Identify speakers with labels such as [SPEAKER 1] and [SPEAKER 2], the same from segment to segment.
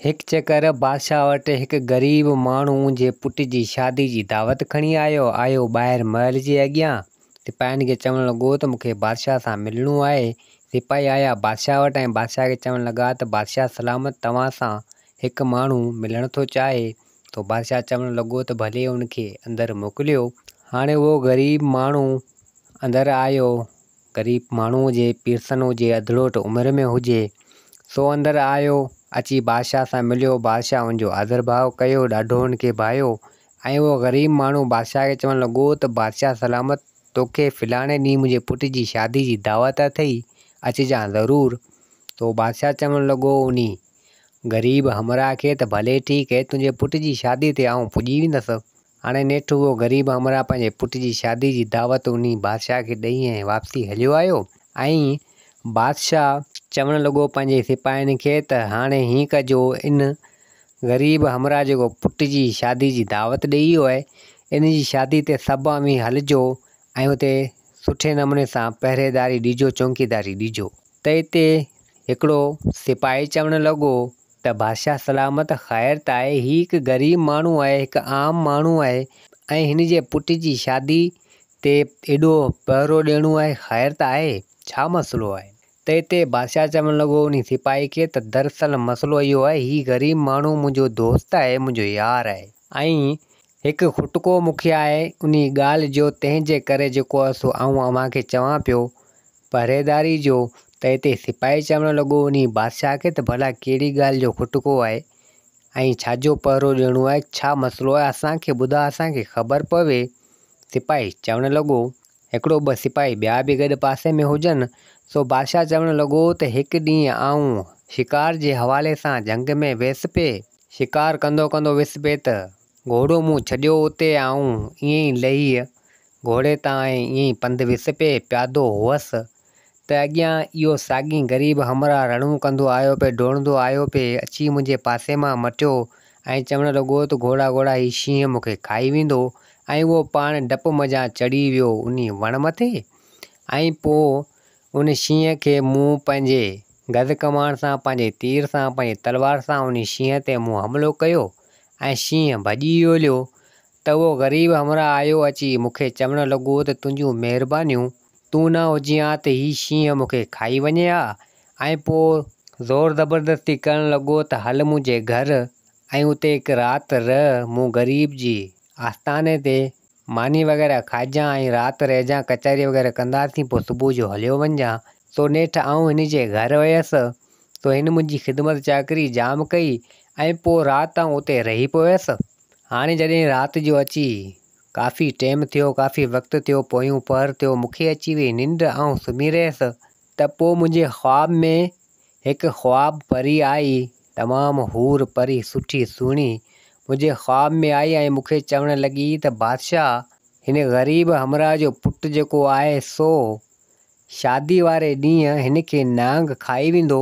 [SPEAKER 1] هڪ چڪر بادشاهه وٽ هڪ غريب ماڻهو جي پٽ جي شادي جي دعوت کڻي آيو. آيو ٻاهر محل جي اڳيان، سپاهين کي چوڻ لڳو ته مون کي بادشاهه سان ملڻو آهي. سپاهي آيا بادشاهه وٽ ۽ بادشاهه کي چوڻ لڳا ته بادشاهه سلامت توهان سان هڪ ماڻهو ملڻ ٿو چاهي ٿو. بادشاهه چوڻ لڳو ته ڀلي ان کي اندر موڪليو. هاڻي اهو غريب ماڻهو اندر آيو. غريب ماڻهوء جي پيرسنو جي اڌڙوٽ عمر ۾ هجي، سو اندر آيو، اچي بادشاهه سان مليو، بادشاهه ان جو آڌرڀاء ڪيو، ڏاڍو ان کي ڀايو، ۽ اهو غريب ماڻهو بادشاهه کي چوڻ لڳو ته بادشاهه سلامت، توکي فلاڻي ڏينهن منهنجي پٽ جي شادي جي دعوت اٿئي، اچجان ضرور. سو بادشاهه چوڻ لڳو انهي غريب همراهه کي ته ڀلي ٺيڪ هي، تنهنجي پٽ جي شادي تي آئون پڄي ويندس. هاڻي نيٺ اهو غريب همراهه پنهنجي پٽ جي شادي جي دعوت انهي بادشاهه کي ڏئي ۽ واپسي هليو آيو ۽ بادشاهه چوڻ لڳو پنهنجي سپاهين کي ته هاڻي هيئن ڪجو ان غريب همراهه جيڪو پٽ جي شادي جي دعوت ڏئي ويو آهي ان جي شادي تي سڀ اوهين هلجو ۽ اتي سٺي نموني سان پهريداري ڏجو چونڪيداري ڏجو. ته اتي هڪڙو سپاهي چوڻ لڳو ته بادشاهه سلامت خير ته آهي، هي هڪ غريب ماڻهو آهي، هڪ عام ماڻهو آهي ۽ هن جي پٽ جي شادي تي ايڏو پهرو ڏيڻو آهي، خير ته آهي، ڇا مسئلو آهي؟ ته اتي بادشاهه چوڻ لڳو انهي سپاهي کي ته دراصل مسئلو اهو آهي، هي غريب ماڻهو منهنجو دوست آهي، منهنجو يار آهي ۽ هڪ کٽڪو مون کي آهي انهي ڳالهه جو تنهن جي ڪري جيڪو عرصو آئون اوهان کي چوان پيو پهريداري جو ته اتي سپاهي چوڻ لڳو انهي بادشاهه کي ته ڀلا ڪهڙي ڳالهه جو کٽڪو آهي ۽ ڇاجو پهرو ڏيڻو آهي ڇا مسئلو آهي اسان کي ٻڌاء اسان کي خبر پوي سپاهي چوڻ لڳو هڪڙو ٻه سپاهي ٻيا به گڏ پاسي ۾ هجن، سو بادشاهه چوڻ لڳو ته هڪ ڏينهن آئون شڪار جي حوالي سان جهنگ ۾ ويس پئي. شڪار ڪندو ڪندو ويس پئي ته گهوڙو مون ڇڏيو اتي آئون ائين ئي لهي گهوڙي تان ۽ ائين ئي پنڌ ويس پئي. پيادو هئس ته اڳيان اهو ساڳين غريب همراهه رڙون ڪندو آيو پئي، ڊوڙندو آيو پئي، اچي منهنجي پاسي مان مٽيو ۽ چوڻ لڳو ته گهوڙا گهوڙا هي شينهن مون کي کائي ويندو ۽ اهو پاڻ ڊپ منجهان چڙهي ويو انهي وڻ مٿي ۽ پوء ان شينهن کي مون پنهنجي گز ڪماڻ سان پنهنجي تير سان پنهنجي تلوار سان انهي شينهن تي مون حملو ڪيو ۽ شينهن ڀڄي ويوليو ته اهو غريب همراهه آيو اچي مون کي چوڻ لڳو ته تنهنجون مهربانيون تون نه هجين ها ته هي شينهن مون کي کائي وڃي ها. ۽ پوء زور زبردستي ڪرڻ لڳو ته هل منهنجي گهر ۽ اتي هڪ رات رهه، مون غريب جي آستاني تي ماني وغيره کائجان ۽ رات رهجان، ڪچهري وغيره ڪنداسين، پوء صبح جو هليو وڃجان. سو نيٺ آئون هن جي گهر ويس، سو هن منهنجي خدمت چاڪري جام ڪئي ۽ پوء رات آئون اتي رهي پويس. هاڻي جڏهن رات جو اچي ڪافي ٽيم ٿيو، ڪافي وقت ٿيو، پويون پهر ٿيو، مون کي اچي ويئي ننڊ، آئون سمهي رهيس. ته پوء منهنجي خواب ۾ هڪ خواب پري آئي، تمام حور پري، سٺي سهڻي، منهنجي خواب ۾ آئي ۽ مون کي چوڻ لڳي ته بادشاهه، هن غريب همراهه جو پٽ جيڪو آهي سو شادي واري ڏينهن هن کي نانگ کائي ويندو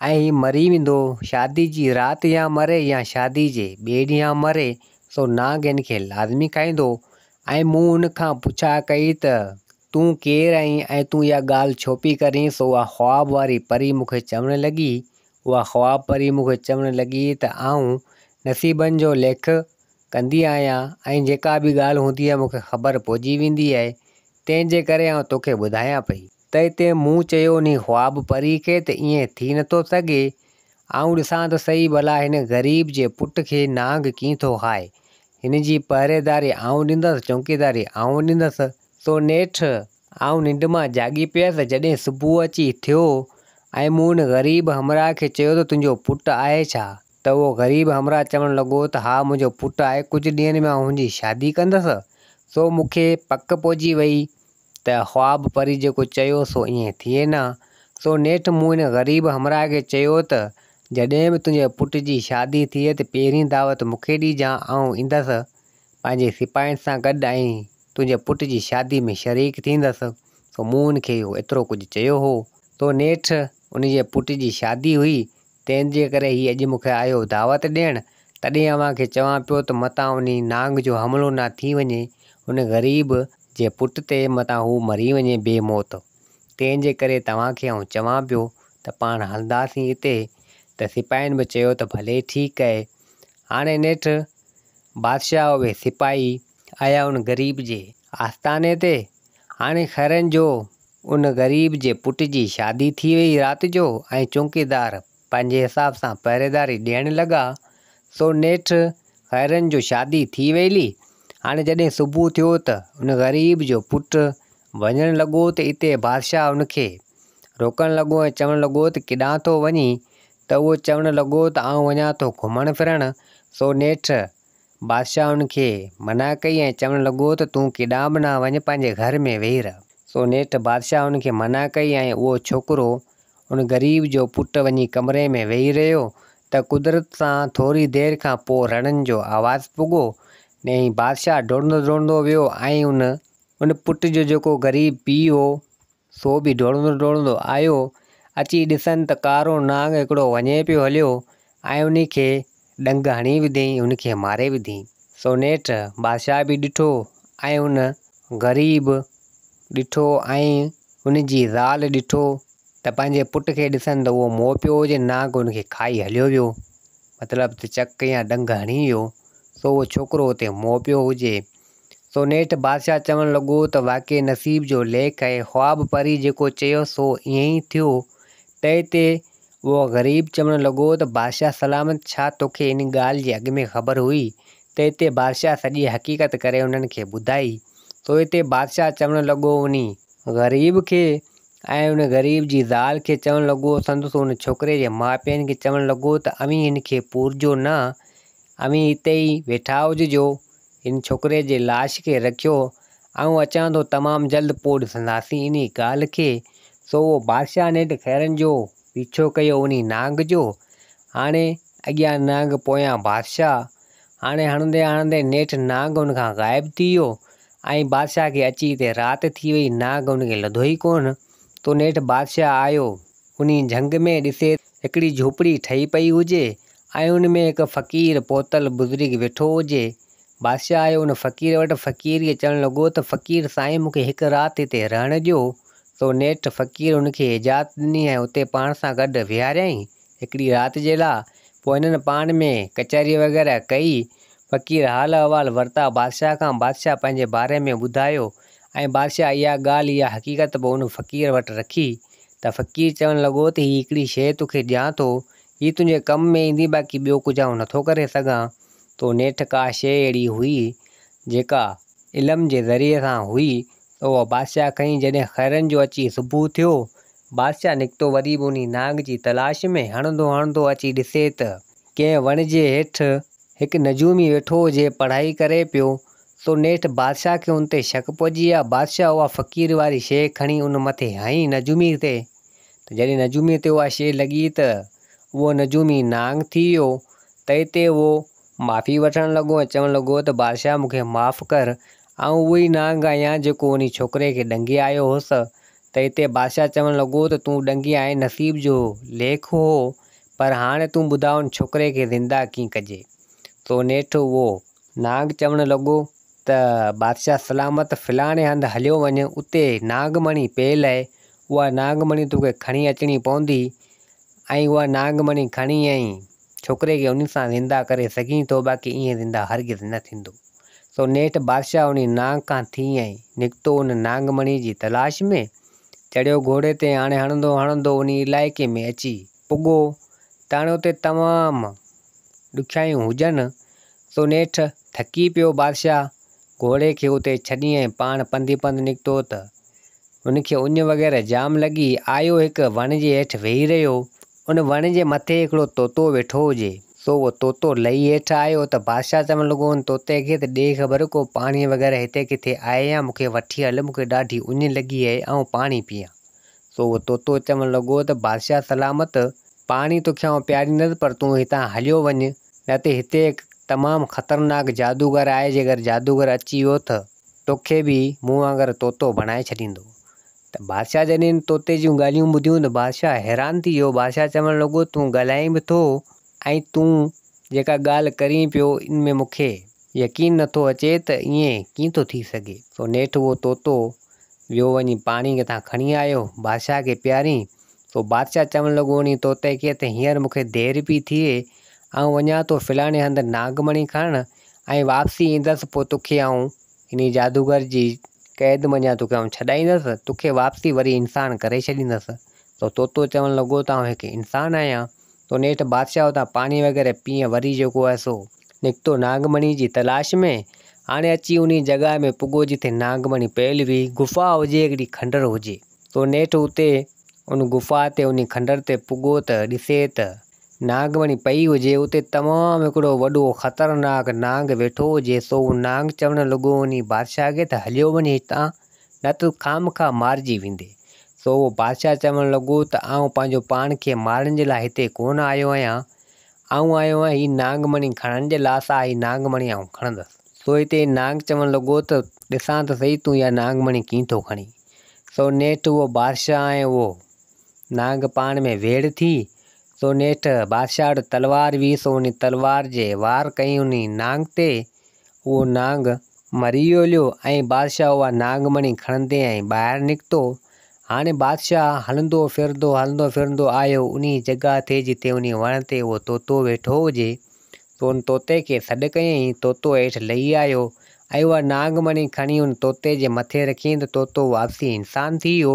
[SPEAKER 1] ۽ هي مري ويندو. شادي جي رات يا مري يا شادي جي ٻئي ڏينهن مري سو نانگ هن کي لازمي کائيندو ۽ مون هن کان پڇا ڪئي ته تون ڪير آهين ۽ تون اها ڳالهه ڇو پئي ڪرين سو اها خواب واري پري مون کي چوڻ لڳي اها خواب پري مون کي چوڻ لڳي ته آئون نصيبن جو ليک ڪندي آهيان ۽ جيڪا به ڳالهه هوندي آهي مون کي خبر پئجي ويندي آهي تنهن جي ڪري آئون توکي ٻڌايان پئي. ته اتي مون چيو انهي خواب پري کي ته ائين ٿي نٿو سگهي آئون ڏسان ته سهي ڀلا هن غريب جي پٽ کي نانگ ڪيئن ٿو کائي هن جي پهريداري آئون ڏيندس چونڪيداري آئون ڏيندس. سو نيٺ آئون ننڊ مان جاڳي پيس جڏهن صبح اچي ٿيو ۽ مون ان غريب همراهه کي چيو ته تنهنجو پٽ آهي ڇا؟ ته اهو غريب همراهه چوڻ لڳو ته ها منهنجو پٽ آهي، ڪجهه ڏينهن ۾ آئون هنجي شادي ڪندس. سو مون کي پڪ پئجي ويئي ته خواب پري جيڪو چيو سو ائين ٿئي نه. سو نيٺ مون ان غريب همراهه کي چيو ته جڏهن به تنهنجي پٽ جي شادي ٿئي ته پهرين دعوت مون کي ڏيجان آئون ايندس پنهنجي سپاهين سان گڏ ۽ تنهنجي پٽ جي شادي ۾ شريڪ ٿيندس. سو مون ان کي اهو ايترو ڪجهه چيو هو. سو نيٺ ان جي پٽ جي شادي هئي تنهن جي ڪري هي اڄ مون کي آيو دعوت ڏيڻ، تڏهن اوهان کي چوان پيو ته متان انهي نانگ جو حملو نه ٿي وڃي، ان غريب جي پٽ تي متان هو مري وڃي بي موت. تنهن جي ڪري توهان کي آئون چوان پيو ته پاڻ هلنداسين اتي، ته سپاهين به چيو ته ڀلي ٺيڪ اهي. هاڻي نيٺ بادشاهه اهي سپاهي آيا ان غريب جي آستاني تي، هاڻي خيرن جو ان غريب جي پٽ جي شادي ٿي وئي رات جو ۽ چونڪيدار پنهنجي حساب سان پهريداري ڏيڻ لڳا سو نيٺ خيرن جو شادي ٿي ويلي هاڻي جڏهن صبح ٿيو ته ان غريب جو پٽ وڃڻ لڳو ته اتي بادشاهه ان کي روڪڻ لڳو ۽ چوڻ لڳو ته ڪيڏانهن ٿو وڃين ته اهو چوڻ لڳو ته آئون وڃان ٿو گهمڻ ڦرڻ سو نيٺ بادشاهه ان کي منع ڪئي ۽ چوڻ لڳو ته تون ڪيڏانهن به نه وڃ، پنهنجي گهر ۾ ويهي رهه. سو نيٺ بادشاهه ان کي منع ڪئي ۽ اهو ڇوڪرو، ان غريب جو پٽ وڃي ڪمري ۾ ويهي رهيو ته قدرت سان ٿوري دير کان پوء رڙن جو آواز پڳو ۽ بادشاهه ڊوڙندو ڊوڙندو ويو ۽ ان پٽ جو جيڪو غريب پيء هو، سو به ڊوڙندو ڊوڙندو آيو. اچي ڏسن ته ڪارو نانگ هڪڙو وڃي پيو هليو ۽ انهي کي ڏنگ هڻي وڌيئين ان کي ماري وڌيئين. سو نيٺ بادشاهه به ڏٺو ۽ ان غريب ڏٺو ۽ ان جي زال ڏٺو ته پنهنجي پٽ کي ڏسن ته اهو مئو پيو هجي نانگ ان کي کائي هليو ويو مطلب ته چڪ يا ڏنگ هڻي ويو سو اهو ڇوڪرو اتي مئو پيو هجي سونيٺ بادشاهه چوڻ لڳو ته واقعي نصيب جو ليک آهي، خواب پري جيڪو چيو سو ائين ئي ٿيو. تنهن تي اهو غريب چوڻ لڳو ته بادشاهه سلامت ڇا توکي ان ڳالهه جي اڳ ۾ خبر هئي؟ تنهن تي بادشاهه سڄي حقيقت ڪري انهن کي ٻڌائي. سونهن تي بادشاهه چوڻ لڳو انهي. غريب کي ۽ ان غريب جي زال کي چوڻ لڳو سندس ان ڇوڪري جي ماء پيئن کي چوڻ لڳو ته اوهين هن کي پورجو نه، اوهين اتي ئي ويٺا هججو، هن ڇوڪري جي لاش کي رکيو، آئون اچان ٿو تمام جلد پوء ڏسنداسين انهي ڳالهه کي. سو اهو بادشاهه نيٺ خيرن جو پيڇو ڪيو انهي نانگ جو. هاڻي اڳيان نانگ پويان بادشاهه. هاڻي هڻندي هڻندي نيٺ نانگ هن کان غائب ٿي ويو ۽ بادشاهه کي اچي هتي رات ٿي وئي نانگ هن کي لڌو ئي ڪونه. تو نيٺ بادشاهه آيو انهي جهنگ ۾ ڏسي ته. هڪڙي جهوپڙي ٺهي پئي هجي ۽ ان ۾ هڪ فقير پهتل بزرگ ويٺو هجي. بادشاهه آيو ان فقير وٽ، فقير کي چوڻ لڳو ته فقير سائين مون کي هڪ رات هتي رهڻ ڏيو. سو نيٺ فقير ان کي اجازت ڏني ۽ اتي پاڻ سان گڏ ويهاريائين هڪڙي رات جي لاء. پوء هنن پاڻ ۾ ڪچهري وغيره ڪئي. فقير حال احوال ورتا بادشاهه کان، بادشاهه پنهنجي باري ۾ ٻڌايو. ۽ بادشاهه اها ڳالهه يا حقيقت به ان فقير وٽ رکي ته فقير چوڻ لڳو ته هي هڪڙي شيء تو کي ڏيان ٿو، هي تنهنجي ڪم ۾ ايندي باقي ٻيو ڪجهه آئون نه ٿو ڪري سگهان. تو نيٺ ڪا شيء اهڙي هئي جيڪا علم جي ذريعي سان هئي ته اها بادشاهه کڻي جڏهن خيرن جو اچي صبح ٿيو، بادشاهه نڪتو وري به انهي نانگ جي تلاش ۾ هڻندو هڻندو اچي ڏسي ته، ڪنهن وڻ جي هيٺ هڪ نجومي ويٺو هو جي پڙهائي ڪري پيو سو نيٺ بادشاهه کي ان تي شڪ پئجي ويو. بادشاهه اها فقير واري شيء کڻي ان مٿي هنئي نجوميء تي ته جڏهن نجوميء تي اها شيء لڳي ته اهو نجومي نانگ ٿي ويو. تئي تي اهو معافي وٺڻ لڳو ۽ چوڻ لڳو ته بادشاهه مون کي معاف ڪر، آئون اهو ئي نانگ آهيان جيڪو انهي ڇوڪري کي ڏنگي آيو هوس. تئي تي بادشاهه چوڻ لڳو ته تون ڏنگي آئين نصيب جو ليک هو، پر هاڻي تون ٻڌاء ان ڇوڪري کي زنده ڪيئن ڪجي. سو نيٺ اهو نانگ چوڻ لڳو ته بادشاهه سلامت فلاڻي هنڌ هليو وڃ، اتي نانگ مڻي پيل اهي، اها نانگ مڻي توکي کڻي اچڻي پوندي ۽ اها نانگ مڻي کڻي ۽ ڇوڪري کي انهي سان زنده ڪري سگهين ٿو، باقي ائين زنده هرگز نه ٿيندو. سو نيٺ بادشاهه انهي نانگ کان ٿي ۽ نڪتو ان نانگ مڻي جي تلاش ۾، چڙهيو گهوڙي تي، هاڻي هڻندو هڻندو انهي علائقي ۾ اچي پڳو تڻيو تي تمام ڏکيائيون هجن، سو نيٺ ٿڪي پيو بادشاهه گهوڙي کي اتي ڇڏي ۽ پاڻ پنڌي پنڌ نڪتو ته هن کي اڃ وغيره جام لڳي، آيو هڪ وڻ جي هيٺ ويهي رهيو، ان وڻ جي مٿي هڪڙو طوطو ويٺو هجي، سو اهو طوطو لهي هيٺ آيو ته بادشاهه چوڻ لڳو ان طوطي کي ته ڏي خبر ڪو پاڻي وغيره هتي ڪٿي آهي يا مون کي وٺي هل مون کي ڏاڍي اڃ لڳي اهي آئون پاڻي پيئان، سو اهو طوطو چوڻ لڳو ته بادشاهه سلامت، پاڻي توکيانء پياريندس پر تون هتان هليو وڃ، نه ته هتي هڪ تمام خطرناڪ جادوگر آهي، جيڪر جادوگر اچي ويو ته توکي به مون وانگر طوطو بڻائي ڇڏيندو. ته بادشاهه جڏهن ان طوطي جون ڳالهيون ٻڌيون ته بادشاهه حيران ٿي ويو، بادشاهه چوڻ لڳو تون ڳالهائين به ٿو ۽ تون جيڪا ڳالهه ڪرين پيو ان ۾ مون کي يقين نه ٿو اچي ته ائين ڪيئن ٿو ٿي سگهي. سو نيٺ اهو طوطو ويو وڃي پاڻي ڪٿان کڻي آيو بادشاهه کي پيارين. سو بادشاهه چوڻ لڳو انهي طوطي کي ته هينئر مون کي دير پي ٿئي آئون وڃان ٿو فلاڻي هنڌ ناگ مڻي کڻڻ ۽ واپسي ايندس پوء توکي آئون انهي جادوگر جي قيد منجهان توکي آئون ڇڏائيندس توکي واپسي وري انسان ڪري ڇڏيندس. سو طوطو چوڻ لڳو ته آئون هڪ انسان آهيان تو نيٺ بادشاهه اتان پاڻي وغيره پيئي وري جيڪو آهي سو نڪتو ناگ مڻي جي تلاش ۾ هاڻي اچي انهي جڳهه ۾ پڳو جتي ناگ مڻي پيل هئي غفا هجي هڪڙي کنڊر هجي تو نيٺ اتي ان غفا تي انهي کنڊر تي پڳو ته ڏسي ته ناگ مڻي پئي هجي اتي تمام هڪڙو وڏو خطرناڪ نانگ ويٺو هجي سو هو نانگ چوڻ لڳو انهي بادشاهه کي ته هليو وڃ هتان نه تون خامخواه مارجي ويندين. سو اهو بادشاهه چوڻ لڳو ته آئون پنهنجو پاڻ کي مارڻ جي لاء هتي ڪونه آيو آهيان. آئون آيو آهيان هي نانگ مڻي کڻڻ جي لاء، سا هي نانگ مڻي آئون کڻندس. سو هتي نانگ چوڻ لڳو ته ڏسان ته سهي تون اها نانگ مڻي ڪيئن ٿو کڻين. سو نيٺ اهو بادشاهه ۽ اهو نانگ پاڻ ۾ ويڙهه ٿي. سو نيٺ بادشاهه وٽ تلوار هئي، سو انهي تلوار جي وار ڪيائين انهي نانگ تي. اهو نانگ مري وليو ۽ بادشاهه اها ناگ مڻي کڻندي ۽ ٻاهر نڪتو. هاڻي بادشاهه هلندو ڦرندو هلندو ڦرندو آيو انهي جڳهه تي جتي انهي وڻ تي اهو طوطو ويٺو هجي. سو ان طوطي کي سڏ ڪيائين، طوطو هيٺ لهي آيو ۽ اها ناگ مڻي کڻي ان طوطي جي مٿي رکيائين ته طوطو واپسي انسان ٿي ويو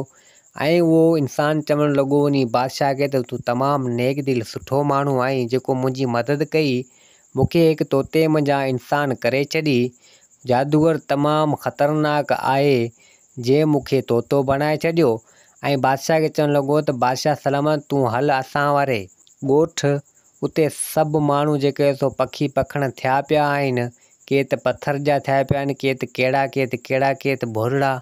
[SPEAKER 1] ۽ اهو انسان چوڻ لڳو انهي بادشاهه کي ته تون تمام نيڪ دل سٺو ماڻهو آهين جيڪو منهنجي مدد ڪئي مون کي هڪ طوطي منجهان انسان ڪري ڇڏي. جادوگر تمام خطرناڪ آهي، جي مون کي طوطو بڻائي ڇڏيو. ۽ بادشاهه کي چوڻ لڳو ته بادشاهه سلامت تون هل اسان واري. ڳوٺ. اتي سڀ ماڻهو جيڪي سو پکي پکڻ ٿيا پيا آهن. ڪي ته پٿر جا ٿيا پيا آهن، ڪي ته ڪهڙا ڪي ته ڪهڙا ڪي ته ڀورڙا.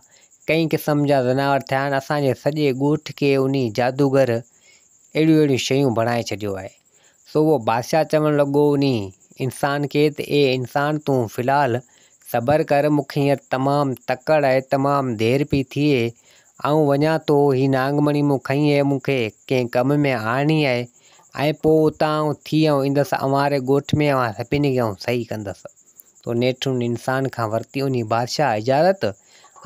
[SPEAKER 1] ڪئين قسم جا ذناور ٿيا آهن. اسان جي سڄي ڳوٺ کي انهي جادوگر اهڙيون اهڙيون شيون بڻائي ڇڏيو آهي. سو اهو بادشاهه چوڻ لڳو انهي انسان کي ته اي انسان تون في الحال صبر ڪر مون کي هينئر تمام تڪڙ آهي تمام دير پئي ٿئي آئون وڃان ٿو هي نانگ مڻي مون کنئي آهي مون کي ڪنهن ڪم ۾ آڻڻي آهي ۽ پوء اتان آئون ٿي آئون ايندس اوهان ري ڳوٺ ۾ اوهان سڀني کي آئون صحيح ڪندس سو نيٺ ان انسان کان ورتي انهي بادشاهه اجازت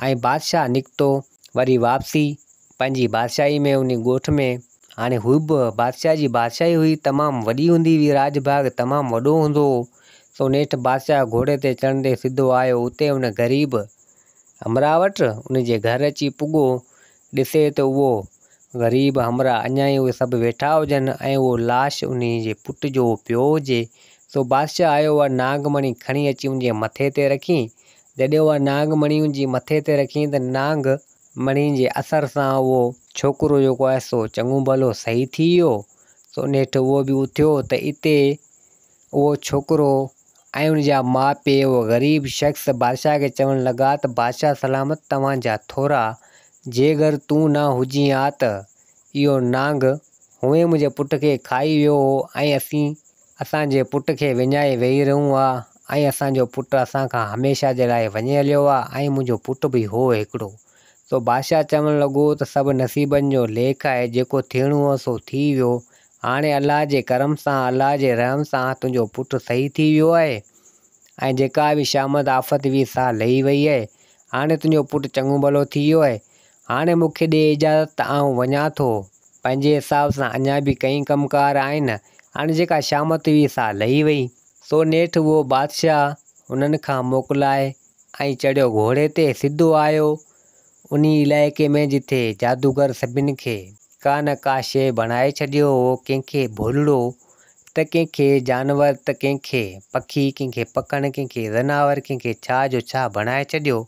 [SPEAKER 1] ۽ بادشاهه نڪتو وري واپسي پنهنجي بادشاهي ۾ انهي ڳوٺ ۾، هاڻي هو به بادشاهه جي بادشاهي هئي، تمام وڏي هوندي هئي، راڄ ڀاڳ تمام وڏو هوندو هو، سو نيٺ بادشاهه گهوڙي تي چڙهندي سڌو آيو اتي ان غريب همراهه وٽ، ان جي گهر اچي پڳو، ڏسي ته اهو غريب همراهه اڃا ئي اهي سڀ ويٺا هجن ۽ اهو لاش انهي جي پٽ جو پيو هجي، سو بادشاهه آيو ۽ ناگ مڻي کڻي اچي ان جي مٿي تي رکي جڏهن اها نانگ مڻي ان جي مٿي تي رکيائين ته نانگ مڻي جي اثر سان اهو ڇوڪرو جيڪو آهي سو چڱو ڀلو صحيح ٿي ويو، سو نيٺ اهو به اٿيو ته اتي اهو ڇوڪرو ۽ ان جا ماء پيء اهو غريب شخص بادشاهه کي چوڻ لڳا ته بادشاهه سلامت توهان جا ٿورا، جي گر تون نه هجين ها ته اهو نانگ هونئن منهنجي پٽ کي کائي ويو هو ۽ اسين اسان جي پٽ کي وڃائي ويهي رهون ها ۽ اسان جو پٽ اسان کان هميشه جي لاء وڃي هليو ها ۽ منهنجو پٽ به هو هڪڙو. سو بادشاهه چوڻ لڳو ته سڀ نصيبن جو ليک آهي، جيڪو ٿيڻو هو سو ٿي ويو. هاڻي الله جي ڪرم سان، الله جي رحم سان تنهنجو پٽ صحيح ٿي ويو آهي ۽ جيڪا به شامت آفت هئي سا لهي وئي آهي. هاڻي تنهنجو پٽ چڱو ڀلو ٿي ويو آهي. هاڻي مون کي ڏي اجازت ته آئون وڃان ٿو. پنهنجي حساب سان اڃا به ڪئين ڪم ڪار آهن. هاڻي جيڪا شامت هئي سا لهي وئي. سو نيٺ اهو بادشاهه انهن کان موڪلائي ۽ چڙهيو گهوڙي تي سڌو آيو انهي علائقي ۾ جتي جادوگر سڀن کي ڪا نه ڪا شيء بڻائي ڇڏيو هو ڪنهن کي ڀولڙو ته ڪنهن کي جانور ته ڪنهن کي پکي ڪنهن کي پکڻ ڪنهن کي زناور ڪنهن کي ڇا جو ڇا بڻائي ڇڏيو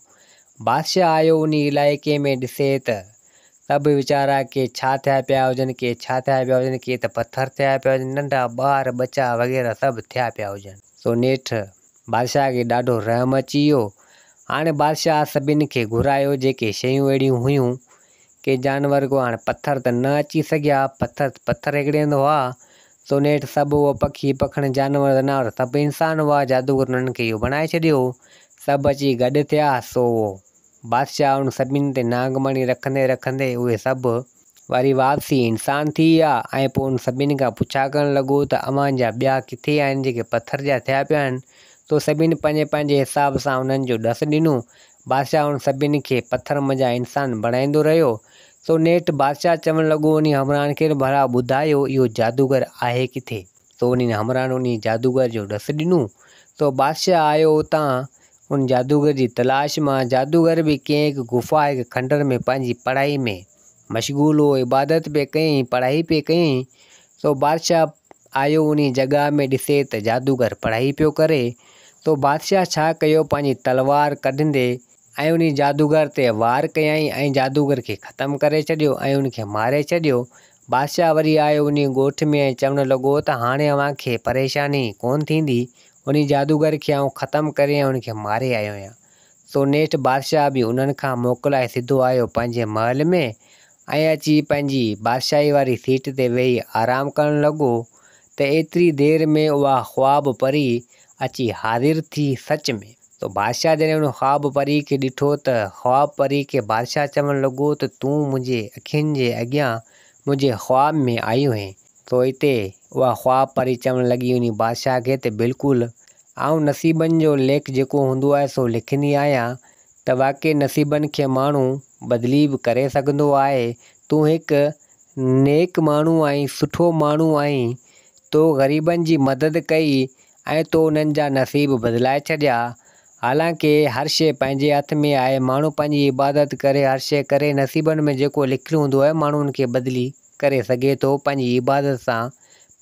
[SPEAKER 1] بادشاهه آيو انهي علائقي ۾ ڏسي ته ته به ويچارا ڪي ڇا ٿيا پيا هجن ڪي ڇا ٿيا پيا هجن ڪي ته پٿر ٿيا پيا هجن ننڍا ٻار ٻچا وغيره سڀ ٿيا پيا هجن. سو نيٺ بادشاهه کي ڏاڍو رحم اچي ويو هاڻي بادشاهه سڀني کي گهرايو جيڪي شيون اهڙيون هيون ڪي جانور ڪو هاڻي پٿر ته نه اچي سگهيا پٿر پٿر هيڪڙي هنڌ هئا سو نيٺ سڀ هو پکي پکڻ جانور ذناور سڀ انسان هئا جادوگر انهن کي اهو بڻائي ڇڏيو هو سڀ اچي گڏ ٿيا سو اهو بادشاهه انهن سڀني تي نانگ مڻي رکندي رکندي اهي سڀ وري واپسي انسان ٿي ويا ۽ پوء انهن سڀني کان پڇا ڪرڻ لڳو ته اوهان جا ٻيا ڪٿي آهن جيڪي پٿر جا ٿيا پيا آهن سو سڀني پنهنجي پنهنجي حساب سان انهن جو ڏس ڏنو بادشاهه انهن سڀني کي پٿر منجهان انسان بڻائيندو رهيو. سو نيٺ بادشاهه چوڻ لڳو انهي همراهن کي ته ڀلا ٻڌايو اهو جادوگر آهي ڪٿي؟ سو انهن همراهن انهي جادوگر جو ڏس ڏنو. سو بادشاهه آيو اتان ان جادوگر جي تلاش مان. جادوگر به ڪنهن هڪ غفا، هڪ کنڊر ۾ پنهنجي پڙهائي ۾. مشغول هو، عبادت پئي ڪيائين، پڙهائي پئي ڪيائين، سو بادشاهه آيو انهيء جڳهه ۾ ڏسي ته جادوگر پڙهائي پيو ڪري، سو بادشاهه ڇا ڪيو پنهنجي تلوار ڪڍندي ۽ انهيء جادوگر تي وار ڪيائين ۽ جادوگر کي ختم ڪري ڇڏيو ۽ ان کي ماري ڇڏيو. بادشاهه وري آيو انهيء ڳوٺ ۾ ۽ چوڻ لڳو ته هاڻي اوهان کي پريشاني ڪونه ٿيندي، انهيء جادوگر کي آئون ختم ڪري ۽ ان کي ماري آيو آهيان. سو نيٺ بادشاهه به انهن کان موڪلائي سڌو آيو پنهنجي محل ۾ ۽ اچي پنهنجي بادشاهي واري سيٽ تي ويهي آرام ڪرڻ لڳو ته ايتري دير ۾ اها خواب پري اچي حاضر ٿي سچ ۾ سو بادشاهه جڏهن ان خواب پري کي ڏٺو ته خواب پري کي بادشاهه چوڻ لڳو ته تون منهنجي اکين جي اڳيان منهنجي خواب ۾ آئي هئين سو اتي اها خواب پري چوڻ لڳي انهي بادشاهه کي ته بلڪل آئون نصيبن جو ليک جيڪو هوندو آهي سو لکندي آهيان ته واقعي نصيبن کي ماڻهو بدلي به ڪري سگهندو آهي تون هڪ نيڪ ماڻهو آهين سٺو ماڻهو آهين تو غريبن جي مدد ڪئي ۽ تو انهن جا نصيب بدلائي ڇڏيا حالانڪ هر شيء پنهنجي هٿ ۾ آهي ماڻهو پنهنجي عبادت ڪري هر شيء ڪري نصيبن ۾ جيڪو لکيل هوندو آهي ماڻهو ان کي بدلي ڪري سگهي ٿو، پنهنجي عبادت سان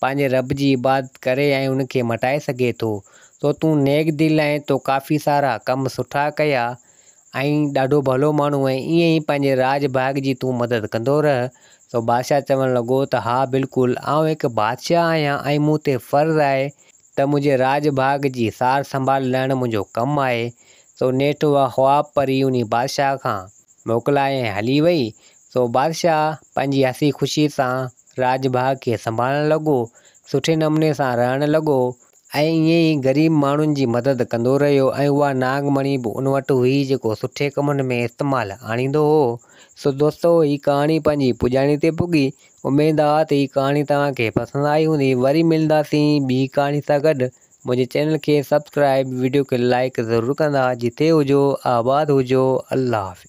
[SPEAKER 1] پنهنجي رب جي عبادت ڪري ۽ ان کي مٽائي سگهي ٿو، سو تون نيڪ دل ۽ تو ڪافي سارا ڪم سٺا ڪيا ۽ ڏاڍو ڀلو ماڻهو آهين، ائين ئي پنهنجي راڄ ڀاڳ جي تون مدد ڪندو رهه، سو بادشاهه چوڻ لڳو ته ها بلڪل آئون هڪ بادشاهه آهيان ۽ مون تي فرض آهي ته منهنجي راڄ ڀاڳ جي سار سنڀال لهڻ منهنجو ڪم آهي، سو نيٺ اها خواب پري انهي بادشاهه کان موڪلائي ۽ هلي وئي، سو بادشاهه پنهنجي هسي خوشي سان راڄ ڀاڳ کي سنڀالڻ لڳو، سٺي نموني سان رهڻ لڳو ۽ ائين ئي غريب ماڻهن جي مدد ڪندو رهيو ۽ اها ناگ مڻي به ان وٽ هئي جيڪو سٺي ڪمن ۾ استعمال آڻيندو هو. سو دوستو هي ڪهاڻي پنهنجي پڄاڻي تي پڳي. اميد آ ته هي ڪهاڻي توهان کي پسند آئي هوندي. وري ملنداسين ٻي ڪهاڻي سان گڏ. منهنجي چينل کي سبسڪرائيب، وڊيو کي لائيڪ ضرور ڪندا. جتي هجو آباد هجو. الله حافظ.